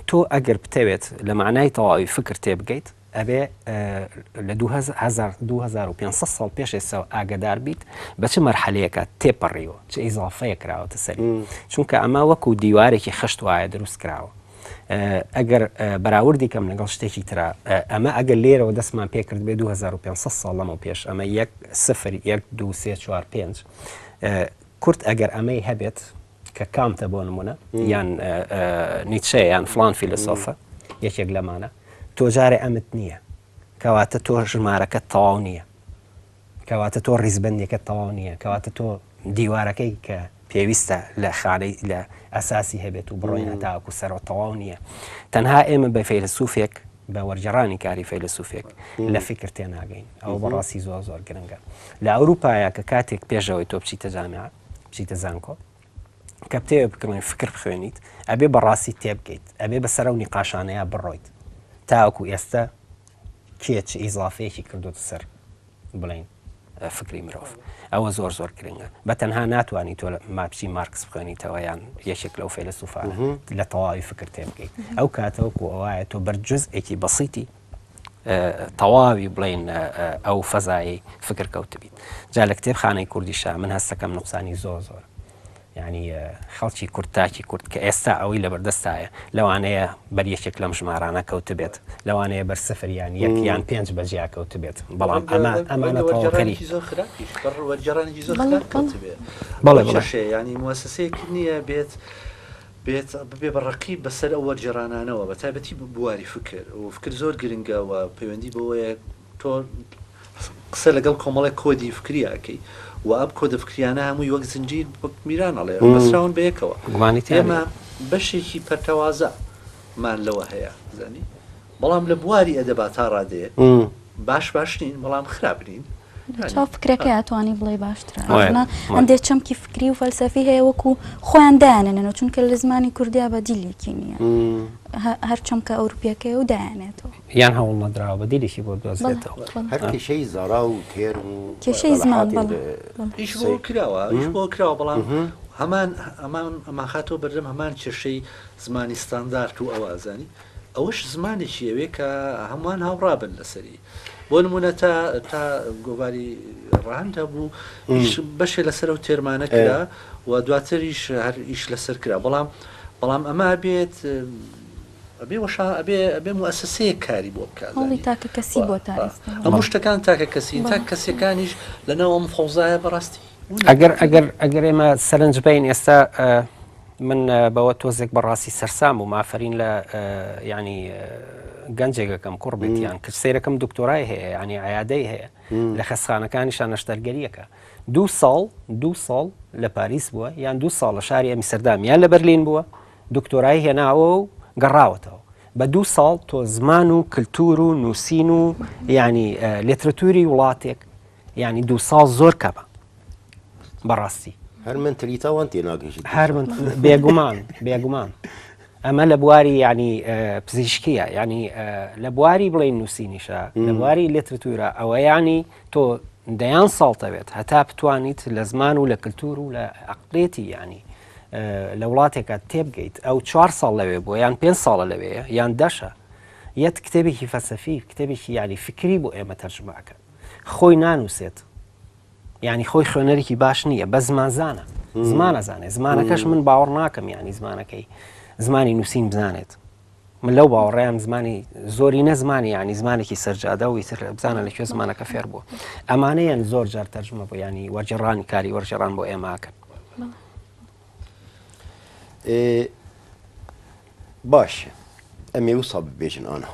تۆ ئەگەر بتەوێت لە معنای تەواوی فکر تێبگەیت ئەبێ لە دوو هەزار دوو هەزار و پێنج سەد ساڵ پێش ئێستاوە ئاگەدار بیت بە چ مەرحەلەیەکە تێپەڕیوە چ ئیزافەیە کراوەتە سەری چونکە ئەمە وەکو دیوارێکی خشت وایە دروست کراوە ئەگەر بەراوردی کەم لەگەڵ شتێکی ترا ئەمە ئەگەر لێرەوە دەستمان پێکرد بێ 2500 ساڵ لەمە پێش ئەمە یەک سفر یەک دو سێ چوار پێنج کورت ئەگەر ئەمەی هەبێت کە کانتە بۆ نمونە یان نیچە یان فلان فیلسۆفە یەکێک لەمانە تۆ جارێ ئەمت نییە کەواتە تۆ ژمارەکە تەواو نییە کەواتە تۆ ڕیزبندێکە تەواو نییە کەواتە تۆ دیوارەکەی کە پێویستە لە خانەی لە ئەساسی هەبێت و بڕۆین هەتاکو سەرۆ تەواو نییە تەنها ئێمە بە فەیلسوفێک بە وەرجەڕانی کاری فەیلسوفێک لە فکر تێناگەین ئەو بەڕاستی زۆر زۆر گرنگە لە ئەوروپاە کە کاتێک پێشەوەی تۆپچی تەجانات بچیتە زانکۆ کە بتەوێ بکڕین فکر بخوێنیت ئەبێ بەڕاستی تێبگەیت ئەبێ بە سەرە و نیقاشانەیە بڕۆیت تاوەکو ئێستا کێ چ ئیزافەیەکی کردوت سەر بڵین فکری مرۆڤ ئەوە زۆر زۆر گرنگە بە تەنها ناتوانانی تۆ ماپچی مارکس بخوێنیتەوە یان یەکێک لەو فێلسوفان لە تەواوی فکر تێبگەیت ئەو کاتەوەکو ئەوە تۆ بەرجزئێکی بەسیتی تەواوی بڵێین ئەو فەزایی فکر کەوتبیت جا لە کتێب خانەی کوردیشە من هەستەکەم نقصانی زۆر زۆر یعنی خەڵکی کورد تاکی کورد کە ئێستا ئەوەی لە بەردەستایە لەوانەیە بەر یەکێک لەم ژمارانە کەوتبێت لەوانەیە بەر سفر یان یەک یان پێنج بەجیا کەوتبێت بەڵام ئەمە ئەمانە تەواوکەری زۆر خراپی وەرگێڕانی زۆر خراپ کەوتبێت بەڵێ شەشێ ینی موسسەیەک نییە بێت بێت، ببێ بە ڕەقیب بەسەر ئەو وەرگێڕانانەوە، بە تایبەتی بواری فکر، و فکر زۆر گرنگە و پەیوەندی بەوەیە تۆ قسە لەگەڵ کۆمەڵێک کۆدی فکری ئەکەی و ئەم کۆدە فکریانە هەمووی وەک زنجیر، وەک میران ئەڵێ، بەستراون بە یەکەوە. ئێمە بەشێکی پەرتەوازە مان لەوە هەیە، زانی؟ بەڵام لە بواری ئەدەبا تا ڕادەیەک باش باش نین، بەڵام خراپ نین. لەچاو فکرەکەیا توانی بڵێ باشترە ئەمانە هەندێ چەمکی فکری و فەلسەفی هەیە وەکو خۆیان دایانەنەوە چونکە لە زمانی کوردیا بە دیلێکی نییە هەر چەمکە ئەوروپیەکەی و دایانێتەوە یان هەوڵ نەدراوە بە دیلێکی بۆ دۆزێتەوە هەر کێشەی زارا و تێر و کێشەی زمان ئیش بۆ کراوە ئیش بۆ کراوە بەڵام هەمان ئەمان ئەماخاتەوە بەردەم هەمان کێشەی زمانی ستاندارد و ئەوازانی ئەوەش زمانێکی ئەوێ کە هەمووان هاوڕا بن لەسەری بۆ نمونە تا تا گۆڤاری ڕەهەند هەبوو بەشێ لەسەر و تێرمانە کرا و دواتریش هەر ئیش لەسەر کرا بەڵام بەڵام ئەمە بێت ئەبێ وەشا ئەبێ ئەبێ موسسەیە کاری بۆ بکات هەڵی تاکە کەسی بۆ تا ئێستا هەموو شتەکان تاکە کەسی تا کەسەکانیش لەناو ئەم فەوزایە بەڕاستی ئەگەر ئەگەر ئەگەر ئێمە سەرنج بین ئێستا من بەوە تۆزێک بەڕاستی سەرسام و مافرین لە ینی گەنجێکەکەم کوڕ بێتیان کچ سیرەکەم دکتۆرای هەیە ینی عیادەی هەیە لە خەسخانەکانی شانەشتەرگەریەکە دوو ساڵ دوو ساڵ لە پاریس بووە یان دوو ساڵ لە شاری ئەمی سەردام یان لە بەرلین بووە دکتۆرای هێناوە و گەڕاوەتەوە بە دوو ساڵ تۆ زمان و کللتور و نووسین و ینی لێترەتوری وڵاتێک یانی دوو ساڵ زۆر کەمە بەڕاستی هەر من تری تاوان تێناگەشت هەر من بێگومان بێگومان ئەمە لە بواری ینی پزیشکیە ینی لە بواری بڵێ نووسینیشە لە بواری لێترتورە ئەوە ینی تۆ دەیان ساڵتەوێت هەتا بتوانیت لە زمان و لە کللتور و لە عقلێتی ینی لە وڵاتێکە تێبگەیت ئەو چوار ساڵ لەوێ بۆ یان پێ ساڵە لەوێ یان دەشە یەت کتێبێکی فەسەفی کتێبێکی ینی فکری بۆ ئێمە تەرجمەکەن خۆی نانوسێت یانی خۆی خوێنەرێکی باش نییە بە زمان زانە زمانە زانێ زمانەکەش من باوەڕ ناکەم یانی زمانەکەی زمانی نووسین بزانێت من لەو باوەڕیان زمانی زۆری نەزمانی ینی زمانێکی سەررجادە و ئیتر بزانە لە کوێ زمانەکە فێر بووە ئەمانەیان زۆر جار تەرجمە بۆ ینی وەرجێڕانی کاری وەرجێڕان بۆ ئێماکەن باش ئەمێ وسا ببێژن ئاها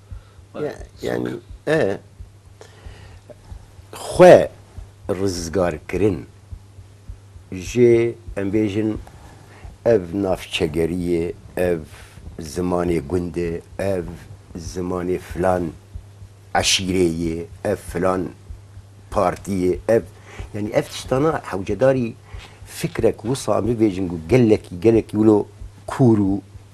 خوێ ڕزگارکرن ژێ ئەم بێژن ئەڤ نافچەگەریێ ئەڤ زمانێ گوندێ ئەڤ زمانێ فلان عەشیرەیێ ئەڤ فلان پارتیێ ئەڤ یعنی ئەڤ شتانە حەوجەداری فکرەک وسا ببێژن و گەلەکی گەلەکی ولۆ کورو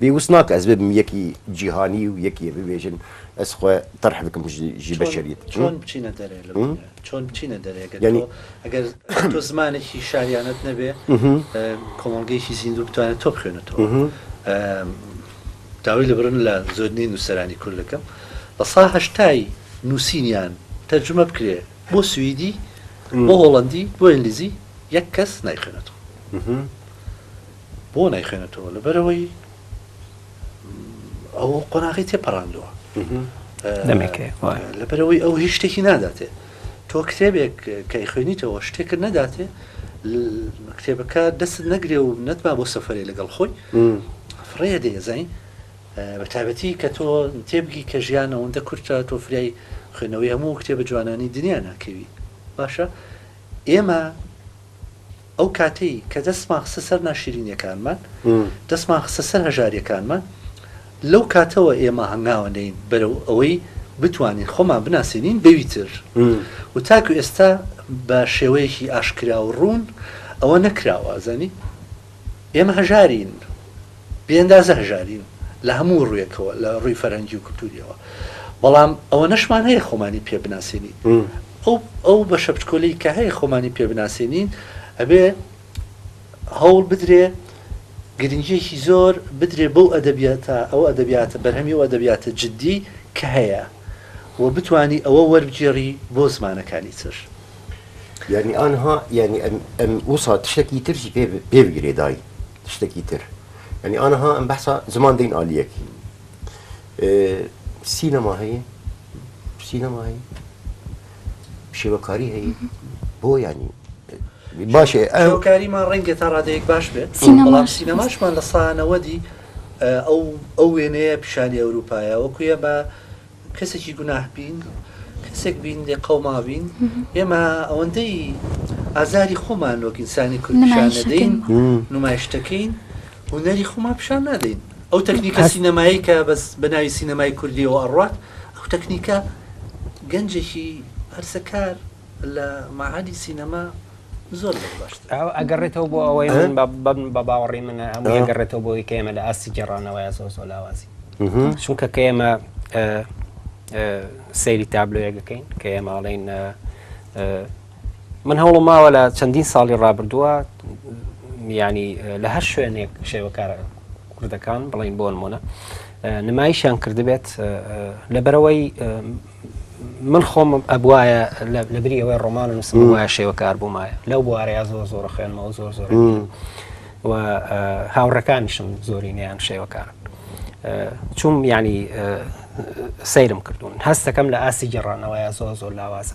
بێ وس ناکە ئەز ببم یەکی جیهانی و یەکی ببێژن ئەز خۆ تەرح بکم ژی بەشەریت چۆن بچینە دەرێ لە چۆن بچینە دەرێ ئەگەر تۆ زمانێکی شاریانەت نەبێ کۆمەڵگەیەکی زیندوو بتوانێت تۆ بخوێنێتەوە داوای لە برن لە زۆرنی نووسەرانی کورد دەکەم لە سا هەشتایی نووسینیان تەرجمە بکرێ بۆ سوئیدی بۆ هۆڵندی بۆ ئینگلیزی یەک کەس نایخوێنێتەوە بۆ نایخوێنێتەوە لەبەرەوەی ئەو قۆناغی تێپەڕاندووە لەبەرەوەی ئەو هیچ شتێکی ناداتێ تۆ کتێبێک کەی خوێنیتەوە شتێکت نەداتێ کتێبەکە دەست نەگرێ و نەتما بۆ سەفرێ لەگەڵ خۆی فڕێ دەیەزین بە تابەتی کە تۆ تێبگی کە ژیان ئەوەندە کورتە تۆ فریای خوێنەوەی هەموو کتێبە جوانانی دنیا ناکەوی باشە ئێمە ئەو کاتەی کە دەستمان خستە سەر ناشیرینیەکانمان، دەستمان خستە سەر هەژاریەکانمان، لەو کاتەوە ئێمە هەنگاوە نێین بەرەو ئەوەی بتوانین خۆمان بناسێنین بەوی تر و تاکو ئێستا بە شێوەیەکی ئاشکرا و ڕوون ئەوە نەکراوە، ئەزانی ئێمە هەژارین، بێ ئەندازە هەژارین لە هەموو ڕوویەکەوە لە ڕووی فەرهەنگی و کلتوریەوە بەڵام ئەوەنەشمان هەیە خۆمانی پێ بناسێنین ئەو ئەو بەشە بچکۆلەی کە هەیە خۆمانی پێ بناسێنین ئەبێ هەوڵ بدرێ گرنگیەکی زۆر بدرێ بەو ئەدەبیاتە ئەو ئەدەبیاتە بەرهەمی و ئەدەبیاتە جددی کە هەیە و بتانی ئەوە وەربگێڕی بۆ زمانەکانی تر یعنی آنها یعنی ام ام وسا تشتکی ترشی پێ پێ بگرێ دای تشتەکی تر ینی ئاها ئەم بەسا زمان دەین ئالیەکی سینەما هەیە سینەما هەیە شێوەکاری هەیە بۆ ینی باشێ ئەوکاریمان ڕەنگە تا ڕادەیەک باش بێت بەڵام سینەماشمان لە سانەوەدی ئەو ئەو وێنەیە پیشانی ئەوروپایە وەکوە بە کەسێکی گوناه بین کەسێک بین لێ قەوما بین ئێمە ئەوەندەی ئازاری خۆمان وەک ئینسانی کوردشانەدەین نمایشتەکەین هوەری خۆمان پیشان نادەین ئەو تەکنیکە سینەمایی کە بەس بە ناوی سینەمای کوردیەوە ئەڕات ئەو تەکنیکە گەنجێکی هەرسەکار لە مەعهەدی سینەما زۆر زۆر باشترە. ئەو ئەگەڕێتەوە بۆ ئەوەی من بە باوەڕی منە هەموو ئەگەڕێتەوە بۆی کە ئێمە لە ئاستی گێڕانەوەیە زۆر زۆر لاوازی چونکە کە ئێمە سەیری تابلۆیە دەکەین کە ئێماڵین من هەوڵم ماوە لە چەندین ساڵی ڕابردووە ینی لە هەر شوێنێک شێوەکارە کوردەکان بڵین بۆ نمونە نمایشیان کردبێت لەبەرەوەی من خۆم ئەبواە لە بری ئەوەی ڕۆمان و نووسم وایە شێوە کار بوومایە لەو بوارەیە زۆر زۆر خوێنمەوە زۆر زۆر و هاوڕەکانیشم زۆری نیان شێوە کار چوم ینی سەیرم کردوون هەستەکەم لە ئاستی گەڕانەوەیە زۆر زۆر لاوازە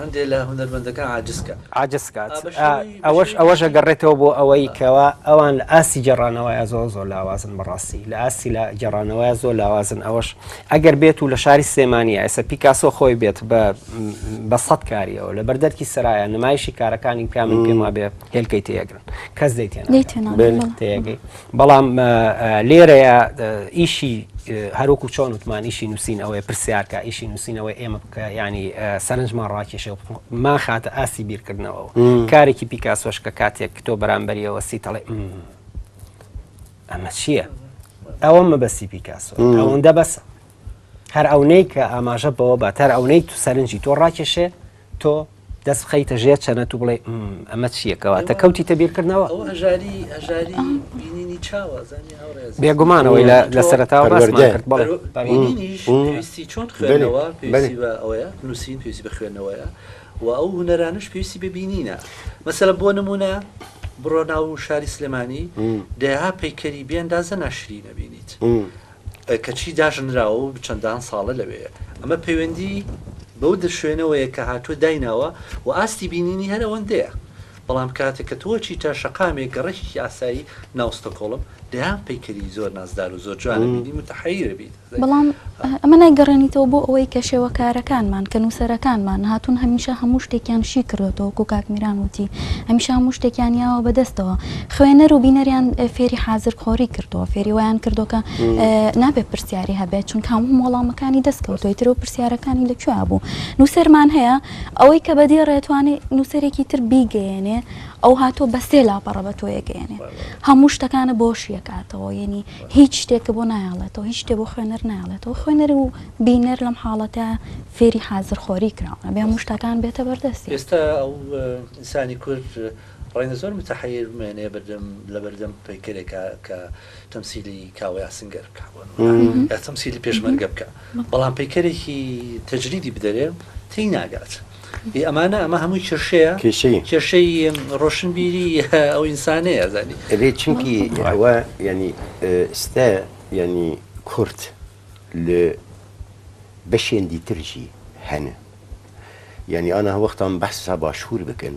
هەندێ لە هونەرمەندەکان عاجز کات. عاجز کات. ئەوەش ئەوەش ئەگەڕێتەوە بۆ ئەوەی کەوا ئەوان لە ئاستی گێڕانەوەیا زۆر زۆر لاوازن بە ڕاستی لە ئاستی لە گێڕانەوەیا زۆر لاوازن ئەوەش ئەگەر بێت و لە شاری سلێمانیە ئێستا پیکاسۆ خۆی بێت بە بە سەد کاریەوە لە بەر دەرکی سەرایا نمایشی کارەکانی بکا من پێم وابێ هێلکەی تێ ئەگرن. کەس دەی تێناگەی بەڵام لێرەیە ئیشی هەروکو چۆن وتمان ئیشی نووسین ئەوەیە پرسیارکە ئیشی نووسینەوەی ئێمە بکە ینی سەرنجمان ڕاکێشە ما خاتە ئاسی بیرکردنەوە کارێکی پیکاسۆش کە کاتێک تۆ بەرامبەریەوە سی تەڵێ ئەمە چییە؟ ئەوە مەبەستی پیکاسۆ ئەوەندە بەسە هەر ئەونەی کە ئاماژە بەوە بە تەر ئەونەی تو سەرنجی تۆ ڕاکێشێ تۆ دەست بخەیتە ژێر چەنەت و بڵێ ئەمە چییە کەواتە کەوتیتە بیرکردنەوە بێگومانەوەی لە سەرتاوە کرد نووسین پێویستی بە خوێندنەوەیە و ئەو هوەرانش پێویستی ببینینە مەسەلە بۆ نمونە بڕۆناو و شاری سلێمانی دەها پەیکەری بێندا زە ناشری نەبینیت کەچی داژەنراوە و چەندان ساڵە لەوێیە. ئەمە پەیوەندی بەو شوێنەوەیە کە هاتووە دایناوە و ئاستی بینینی هەر ئەوەندەیە. بەڵام کاتێ کە تۆ ئەچیتە شەقامێک گەڕەکێکی ئاسایی ناو ستۆکۆڵم، دەیان پەیکەری زۆر نازدار و زۆر جوان ئەبینی موتەحەیر ئەبیت. بەڵام ئەمە نایگەڕێنیتەوە بۆ ئەوەی کە شێوەکارەکانمان، کە نووسەرەکانمان هاتوون هەمیشە هەموو شتێکیان شی کردۆتەوە وەکو کاک میران وتی هەمیشە هەموو شتێکیان یاوە بە دەستەوە. خوێنەر و بینەریان فێری حازر خۆری کردووە فێری ویان کردو کە نابێت پرسیاری هەبێت چونکە هەموو وەڵامەکانی دەست کەوتۆی ترو پرسیارەکانی لە کوێ بوو نووسەرمان هەیە ئەوەی کە بە دێ ڕێتوانێ نووسەرێکی تر بیگەیەنێ ئەو هاتۆ بە سێ لاپەڕە بە تۆ یەگەیەنێ هەموو شتەکانە بۆ شیەکاتەوە یعنی هیچ شتێکە بۆ نایڵێتەوە هیچ شتێ بۆ خوێنەر نایڵێتەوە خوێنەر و بینەر لەم حاڵەتە فێری حازر خۆری کراونە بێ مشتەکان بێتە بەردەستی ئێستا ئەو ئینسانی کورد ڕەنگە زۆر متەحەیر بمێنێ بەردەم لەبەردەم پەیکەرێکا کە تەمسیلی کاوەی ئاسنگەر بکا بۆ نموونە یا تەمسیلی پێشمەرگە بکا بەڵام پەیکەرێکی تەجریدی بدەرێ تێی ناگات ئی ئەمانە ئەمە هەمووی کێشەیە کێشەیە کێشەی ڕۆشنبیری ئەو ئینسانەیە ئەزانی ئەبێ چونکی ئەوە یانی ئێستا یانی کورد لە بەشێندی تر ژی هەنە یانی ئانا وەختان بەحسا باشوور بکەن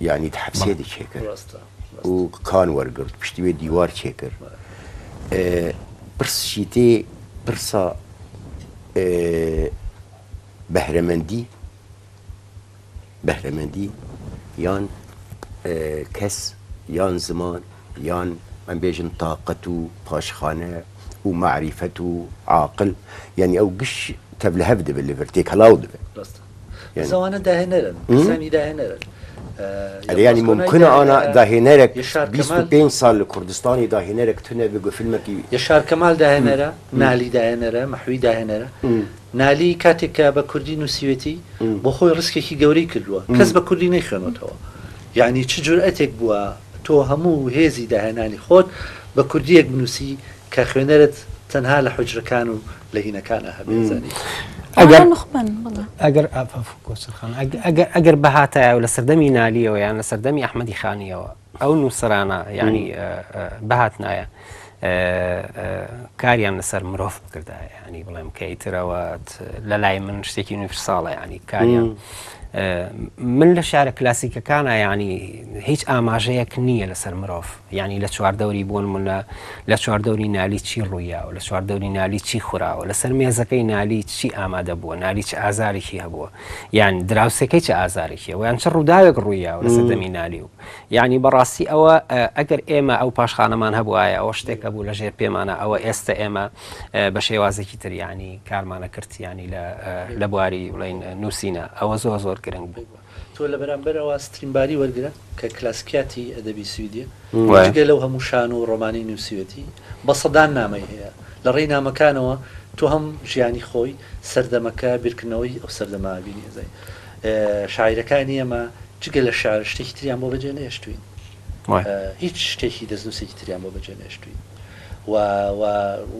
یانی تحبسێ دی چێ کرد و کان وەرگرت پشتی وێ دیوار چێ کرد پرسشیتێ پرسا بەهرەمەندی بەهرەمەندی یان کەس یان زمان یان من بێژن تااقەت و پاشخانە و معریفەت و عاقل یعنی ئەو گشت تەب لە هەف دەبێت لەڤەر تێکەڵاو دەبێت زوانە داهێنەرن کەسانی داهێنەرن ئەرێ یانی ممکنە ئانا داهێنەرێک یە شار بیست و کەمال پێنج ساڵ لە کوردستانی داهێنەرێک تو نەبێ گۆ فیلمێکی یە شار کەمال داهێنەرە نالی داهێنەرە مەحوی داهێنەرە نالی کاتێک کە بە کوردی نووسیوێتی بۆ خۆی ڕیسکێکی گەورەی کردووە کەس بە کوردی نەیخوێنێتەوە یعنی چ جورئەتێک بووە تۆ هەموو هێزی داهێنانی خۆت بە کوردییەک بنووسی کە خوێنەرت تەنها لە حوجرەکان و لە هینەکانە هەبێزانی ئەگەر ئافافکۆچخان ئەگەر بەهاتایە و لە سەردەمی نالیەوە یان لە سەردەمی ئەحمەدی خانیەوە ئەو نووسرانە ینی بەهات نایە کاریان لەسەر مرۆڤ بکردا ینی بڵێم کەیترەوەت لە لای من شتێکی نوفرساڵە ینی کاریان من لە شارە کلاسیکەکانە ینی هیچ ئاماژەیەک نییە لەسەر مرۆڤ یانی لە چواردەوری بۆنمونە لە چواردەوری نالی چی ڕوویاوە، لە چواردەوری نالی چی خوراوە، لەسەر مێزەکەی نالی چی ئامادە بووە، نالی چ ئازارێکی هەبووە، یان دراوسێکەی چ ئازارێکی هەبووە، یان چ ڕووداوێک ڕوویاوە لە سەردەمی نالی و یانی بەڕاستی ئەوە ئەگەر ئێمە ئەو پاشخانەمان هەبوایە ئەوە شتێک هەبوو لە ژێر پێمانە ئەوە ئێستە ئێمە بە شێوازێکی تر یانی کارمانە کرد یانی لە بواری بڵین نووسینە ئەوە زۆر زۆر گرنگ بوو. تۆ لە بەرامبەر ئەوە ستریمباری وەرگرە کە کلاسیکیاتی ئەدەبی سویدیە، جگە لەو هەموو شانۆ و ڕۆمانەی نووسیوێتی، بە سەدان نامەی هەیە. لە ڕێی نامەکانەوە تۆ هەم ژیانی خۆی، سەردەمەکە، بیرکردنەوەی ئەو سەردەمە بینی ئەزای. شاعیرەکانی ئێمە جگە لە شیعر شتێکی تریان بۆ بەجێ نەهێشتووین. هیچ شتێکی دەستنووسێکی تریان بۆ بەجێ نەهێشتووین و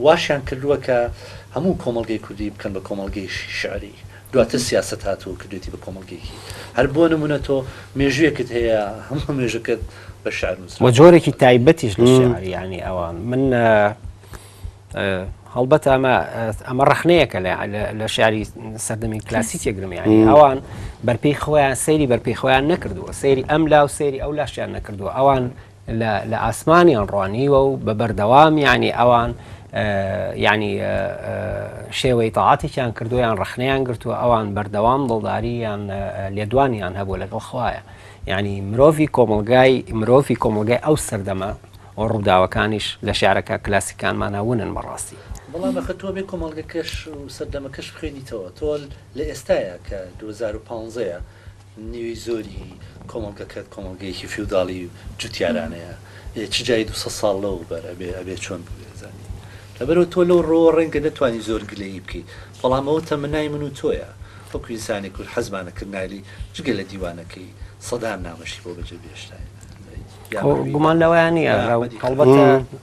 واشیان کردووە کە هەموو کۆمەڵگەی کوردی بکەن بە کۆمەڵگەی شیعری. دواتر سیاسەت هات و کردویەتی بە کۆمەڵگەیەکی. هەر بۆ نموونە تۆ مێژوویەکت هەیە هەموو مێژووکەت بە شیعر نووسراوە. و جۆرێکی تایبەتیش لە شیعر یانی ئەوان. من هەڵبەت ئەمە ئەمە ڕەخنەیەکە لە شیعری سەردەمی کلاسیک یەکگرم یانی ئەوان بەرپێی خۆیان سەیری بەرپێی خۆیان نەکردووە سەیری ئەم لا و سەیری ئەو لاشیان نەکردووە ئەوان لە لە ئاسمانیان ڕوانیوە و بە بەردەوام یعنی ئەوان یعنی شێوەی تاعاتێکیان کردو یان ڕخنەیان گرتووە ئەوان بەردەوام دڵداری یان لێدوانیان هەبوو لەگەڵ خوایە یعنی مرۆڤی کۆمەلگای مرۆڤی کۆمەلگای ئەو سەردەمە و ڕووداوەکانیش لە شعرەکە کلاسیکانمانە ونن بەڕاستی. بەڵام ئەخە تۆ بێ کۆمەڵگەکەش و سەردەمەکەش بخوێنیتەوە تۆ لە ئێستایا کە دوو هەزار و پانزەیە نیوەی زۆری کۆمەڵگەکەت کۆمەڵگەیەکی فیوداڵی و جوتیارانەیە ئێ چ جای دوو سەد ساڵ لەو بەر ئەبێ ئەبێ چۆن بووێ ئەزانی لەبەرەوە تۆ لەو ڕۆوە ڕەنگە نەتوانی زۆر گلەیی بکەی بەڵام ئەوە تەمەنای من و تۆیە وەکو ئینسانێک کورد حەزمانە کرد نایلی جگە لە دیوانەکەی سەدان نامەشی بۆ بەجێ بێشتاین ئەی یا خۆ مەحوی گومان لەوەیان نییە ئەحمەدی هەڵبەتە کەرکووک.